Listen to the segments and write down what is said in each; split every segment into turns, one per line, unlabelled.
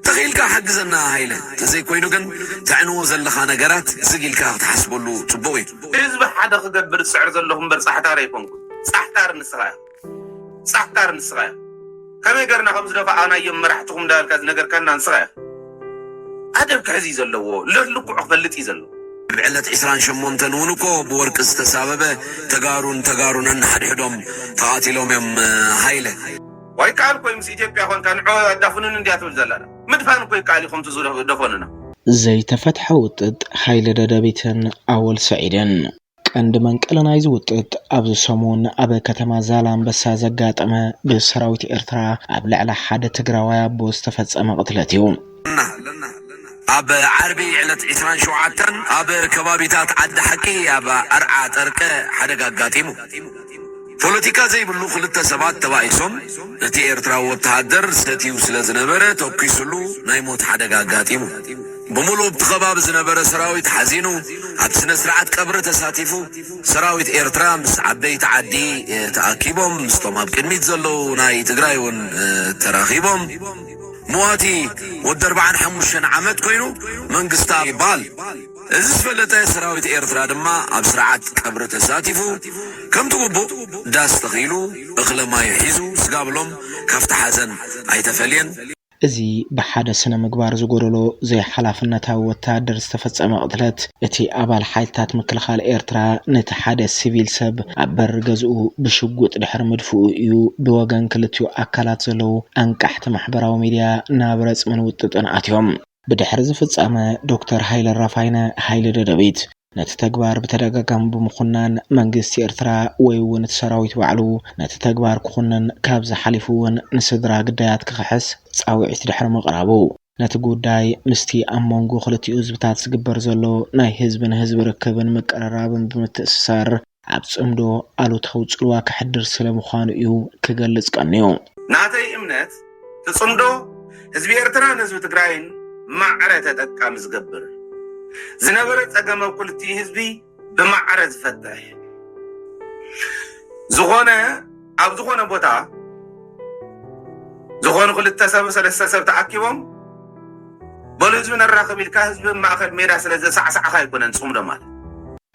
ተኺኢልካ ሓግዘና ሃይለ ተዘይ ኮይኑ ግን ተዕንዎ ዘለኻ ነገራት ዝግ ኢልካ ክትሓስበሉ ጽቡቕ እዩ። ህዝቢ ሓደ
ክገብር ዝጽዕር ዘለኹ እምበር ጻሕታር ኣይኮንኩን ጻሕታር ንስኻ ኢኻ ጻሕታር ንስኻ ኢኻ ከመይ ገርና ከም ዝደፋኣናዮም መራሕትኹም እንዳበልካ ዝነገርካና ንስኻ ኢኻ ኣደብ ክሕዝ እዩ ዘለዎ ልዕ ልክዑ ክፈልጥ እዩ ዘለዎ። ኣብ ዕለት ዕስራን
ሸሞንተን እውን እኮ ብወርቂ ዝተሳበበ ተጋሩን ተጋሩን ነንሓድሕዶም ተቃቲሎም እዮም ሃይለ። ዋይ ይከኣል እኮ
እዩ ምስ ኢትዮጵያ ኮንካ ንዑ ኣዳፉኑኒ እንድያ ትብል ዘላ እላ ምድፋን እኮ ይከኣል እዩ ከምቲ ዝደፈኑና። ዘይተፈትሐ
ውጥጥ ሓይሊ ደደቢትን ኣወል ሰዒድን። ቀንዲ መንቀሊ ናይዚ ውጥጥ ኣብዚ ሰሙን ኣብ ከተማ ዛላንበሳ ዘጋጠመ ብሰራዊት ኤርትራ ኣብ ልዕሊ ሓደ ትግራዋይ ኣቦ ዝተፈጸመ ቅትለት እዩ።
ኣብ ዓርቢ ዕለት ዕስራን ሸውዓተን ኣብ ከባቢታት ዓዲ ሓቂ ኣብ ኣርዓ ጠርቀ ሓደጋ ኣጋጢሙ። ፖለቲካ ዘይብሉ ክልተ ሰባት ተባኢሶም ነቲ ኤርትራዊ ወተሃደር ሰትዩ ስለዝነበረ ተኲሱሉ ናይ ሞት ሓደጋ ኣጋጢሙ። ብምሉኡ ኣብቲ ከባቢ ዝነበረ ሰራዊት ሓዚኑ ኣብ ስነስርዓት ቀብሪ ተሳቲፉ። ሰራዊት ኤርትራ ምስ ዓበይቲ ዓዲ ተኣኪቦም ምስቶም ኣብ ቅድሚት ዘለዉ ናይ ትግራይ'ውን ተራኺቦም። መዋቲ ወዲ ኣርባዓን ሓሙሽተን ዓመት ኮይኑ መንግስታብ ይበሃል። እዚ ዝፈለጠ ሰራዊት ኤርትራ ድማ ኣብ ስርዓት ቀብሪ ተሳቲፉ ከምቲ ግቡእ ዳስ ተኺሉ እኽለ ማዩ ሒዙ ስጋብሎም ካብቲ ሓዘን ኣይተፈልየን። እዚ
ብሓደ ስነ ምግባር ዝጎደሎ ዘይሓላፍነታዊ ወተሃደር ዝተፈጸመ ቅትለት፣ እቲ ኣባል ሓይልታት ምክልኻል ኤርትራ ነቲ ሓደ ሲቪል ሰብ ኣብ በሪ ገዝኡ ብሽጉጥ ድሕሪ ምድፍኡ እዩ ብወገን ክልቲኡ ኣካላት ዘለዉ ኣንቃሕቲ ኣብቲ ማሕበራዊ ሚድያ ናብ ረጽምን ውጥጥን ኣትዮም። ብድሕሪ እዚ ፍጻመ ዶክተር ሃይለ ኣራፋይነ፣ ሃይለ ደደቢት፣ ነቲ ተግባር ብተደጋጋሚ ብምኹናን መንግስቲ ኤርትራ ወይ'ውን እቲ ሰራዊት ባዕሉ ነቲ ተግባር ክኹንን ካብዚ ሓሊፉ'ውን ንስድራ ግዳያት ክኽሕስ ጻውዒት ድሕሪ ምቕራቡ፣ ነቲ ጉዳይ ምስቲ ኣብ መንጎ ክልቲኡ ህዝብታት ዝግበር ዘሎ ናይ ህዝቢ ንህዝቢ ርክብን ምቅርራብን ብምትእስሳር ኣብ ጽምዶ ኣሉታዊ ጽልዋ ከሕድር ስለ ምዃኑ እዩ ክገልጽ ቀንዩ። ናተይ እምነት
እቲ ጽምዶ ህዝቢ ኤርትራን ህዝቢ ትግራይን ማዕረ ተጠቃሚ ዝገብር ዝነበረ ጸገም ኣብ ክልቲኡ ህዝቢ፣ ብማዕረ ዝፈትሕ ዝኾነ ኣብ ዝኾነ ቦታ ዝኾኑ ክልተ ሰብ ሰለስተ ሰብ ተኣኪቦም በሉ ህዝቢ ነራኽብ ኢልካ ህዝቢ ማእኸል ሜዳ ስለ ዘሳዕሳዕኻ ኣይኮነን ፅምዶ ማለት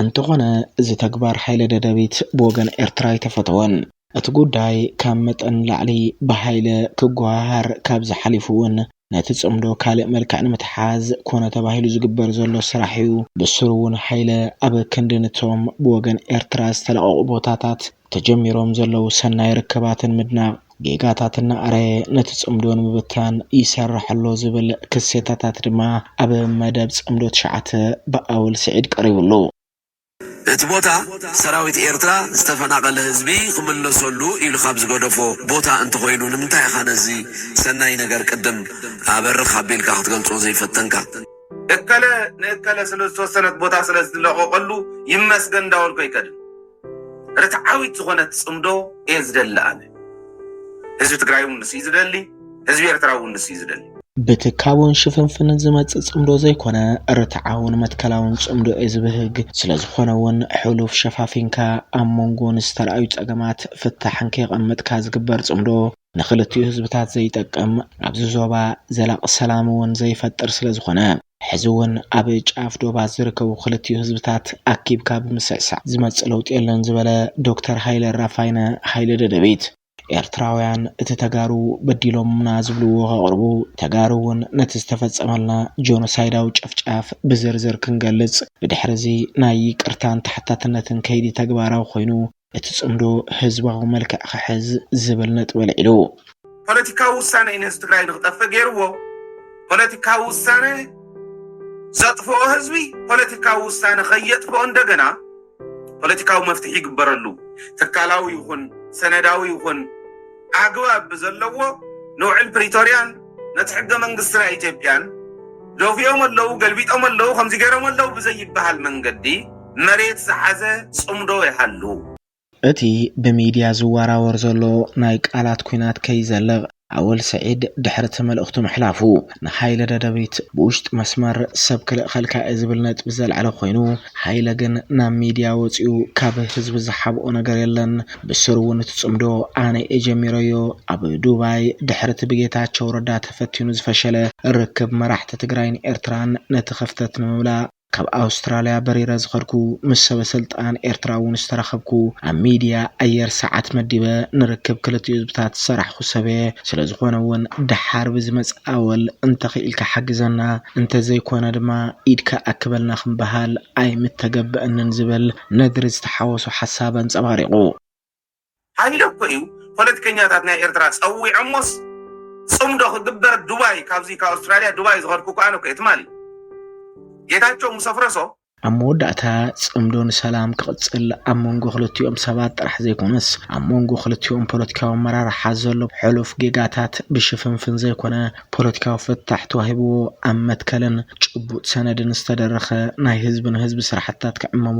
እንተኾነ
እዚ ተግባር ሓይለ ደደቢት ብወገን ኤርትራ ኣይተፈተወን። እቲ ጉዳይ ካብ መጠን ንላዕሊ ብሃይለ ክጎሃሃር ካብዚ ሓሊፉ እውን ነቲ ፅምዶ ካልእ መልክዕ ንምትሓዝ ኮነ ተባሂሉ ዝግበር ዘሎ ስራሕ እዩ። ብስሩ እውን ሃይለ ኣብ ክንዲ ንቶም ብወገን ኤርትራ ዝተለቐቑ ቦታታት ተጀሚሮም ዘለዉ ሰናይ ርክባትን ምድናቕ ጌጋታት እናኣረየ ነቲ ፅምዶ ንምብታን ይሰርሕ ኣሎ ዝብል ክሴታታት ድማ ኣብ መደብ ፅምዶ ትሽዓተ ብኣወል ስዒድ ቀሪቡሉ። እቲ
ቦታ ሰራዊት ኤርትራ ዝተፈናቐለ ህዝቢ ክምለሰሉ ኢሉ ካብ ዝገደፎ ቦታ እንተኾይኑ ንምንታይ ኢኻ ነዚ ሰናይ ነገር ቅድም ኣበርኽ ኣቢልካ ክትገልጾ ዘይፈተንካ? እከለ
ንእከለ ስለ ዝተወሰነት ቦታ ስለ ዝለቐቐሉ ይመስገን እንዳበልኩ ኣይከድን። ርትዓዊት ዝኾነት ጽምዶ እየ ዝደሊ ኣነ። ህዝቢ ትግራይ እውን ንሱ እዩ ዝደሊ። ህዝቢ ኤርትራ እውን ንሱ እዩ ዝደሊ። ብትካቦን
ሽፍንፍንን ዝመጽእ ጽምዶ ዘይኮነ ርትዓውን መትከላውን ጽምዶ እየ ዝብህግ። ስለዝኾነ እውን ሕሉፍ ሸፋፊንካ ኣብ መንጎ ንዝተራእዩ ጸገማት ፍታሕን ከየቐመጥካ ዝግበር ጽምዶ ንክልቲኡ ህዝብታት ዘይጠቅም ኣብዚ ዞባ ዘላቂ ሰላም እውን ዘይፈጥር ስለዝኾነ ሕዚ እውን ኣብ ጫፍ ዶባት ዝርከቡ ክልቲኡ ህዝብታት ኣኪብካ ብምስዕሳዕ ዝመጽእ ለውጢ የለን ዝበለ ዶክተር ሃይለ ራፋይነ ሃይለ ደደቢት ኤርትራውያን እቲ ተጋሩ በዲሎሙና ዝብልዎ ከቕርቡ፣ ተጋሩ እውን ነቲ ዝተፈጸመልና ጆኖሳይዳዊ ጨፍጫፍ ብዝርዝር ክንገልጽ፣ ብድሕሪ'ዚ ናይ ይቅርታን ተሓታትነትን ከይዲ ተግባራዊ ኮይኑ እቲ ጽምዶ ህዝባዊ መልክዕ ክሕዝ ዝብል ነጥቢ ኣልዒሉ። ፖለቲካዊ
ውሳነ እዩ ነዚ ትግራይ ንክጠፍእ ገይርዎ ፖለቲካዊ ውሳነ ዘጥፍኦ ህዝቢ ፖለቲካዊ ውሳነ ከየጥፍኦ እንደገና። ፖለቲካዊ መፍትሒ ይግበረሉ፣ ትካላዊ ይኹን ሰነዳዊ ይኹን ኣግባብ ብዘለዎ ንውዕል ፕሪቶርያን ነቲ ሕገ መንግስቲ ናይ ኢትዮጵያን ደፊኦም ኣለው ገልቢጦም ኣለው ከምዚ ገይሮም ኣለው ብዘይበሃል መንገዲ መሬት ዝሓዘ ፅምዶ ይሃሉ።
እቲ ብሚድያ ዝወራወር
ዘሎ
ናይ ቃላት ኲናት ከይዘልቕ ኣወል ስዒድ ድሕሪ'ቲ መልእኽቱ ምሕላፉ፣ ንሃይለ ደደቢት ብውሽጢ መስመር ሰብ ክልእኸልካ እየ ዝብል ነጥቢ ዘልዐለ ኮይኑ፣ ሃይለ ግን ናብ ሚድያ ወፂኡ ካብ ህዝቢ ዝሓብኦ ነገር የለን፣ ብስሩ እውን እቲ ፅምዶ ኣነ እየ ጀሚረዮ፣ ኣብ ዱባይ ድሕሪ'ቲ ብጌታቸው ረዳ ተፈቲኑ ዝፈሸለ ርክብ መራሕቲ ትግራይን ኤርትራን ነቲ ክፍተት ንምምላእ። ካብ ኣውስትራልያ በሪረ ዝኸድኩ ምስ ሰበሰልጣን ኤርትራ'ውን ዝተራኸብኩ ኣብ ሚድያ ኣየር ሰዓት መዲበ ንርክብ ክልቲኡ ህዝብታት ዝሰራሕኹ ሰብ'የ። ስለዝኾነ'ውን ደሓር ብዝመጽእ ኣወል እንተኽኢልካ ሓግዘና እንተዘይኮነ ድማ ኢድካ ኣክበልና ክበሃል ኣይምተገበእንን ዝብል ነግሪ ዝተሓወሶ ሓሳብ ኣንጸባሪቑ።
ሃይለ እኮ እዩ ፖለቲከኛታት ናይ ኤርትራ ጸዊዖሞስ ጽምዶ ክግበር ዱባይ ካብዚ ካብ ኣውስትራልያ ዱባይ ዝኸድኩ እኮ ኣነ እኮ እየ ትማሊ ጌታቸው ምስ ኣፍረሶ ኣብ መወዳእታ
ጽምዶ ንሰላም ክቕጽል ኣብ መንጎ ክልቲኦም ሰባት ጥራሕ ዘይኮነስ ኣብ መንጎ ክልቲኦም ፖለቲካዊ ኣመራርሓ ዘሎ ሕሉፍ ጌጋታት ብሽፍንፍን ዘይኮነ ፖለቲካዊ ፍታሕ ተዋሂብዎ ኣብ መትከልን ጭቡጥ ሰነድን ዝተደረኸ ናይ ህዝቢ ንህዝቢ ስራሕትታት ክዕመሙ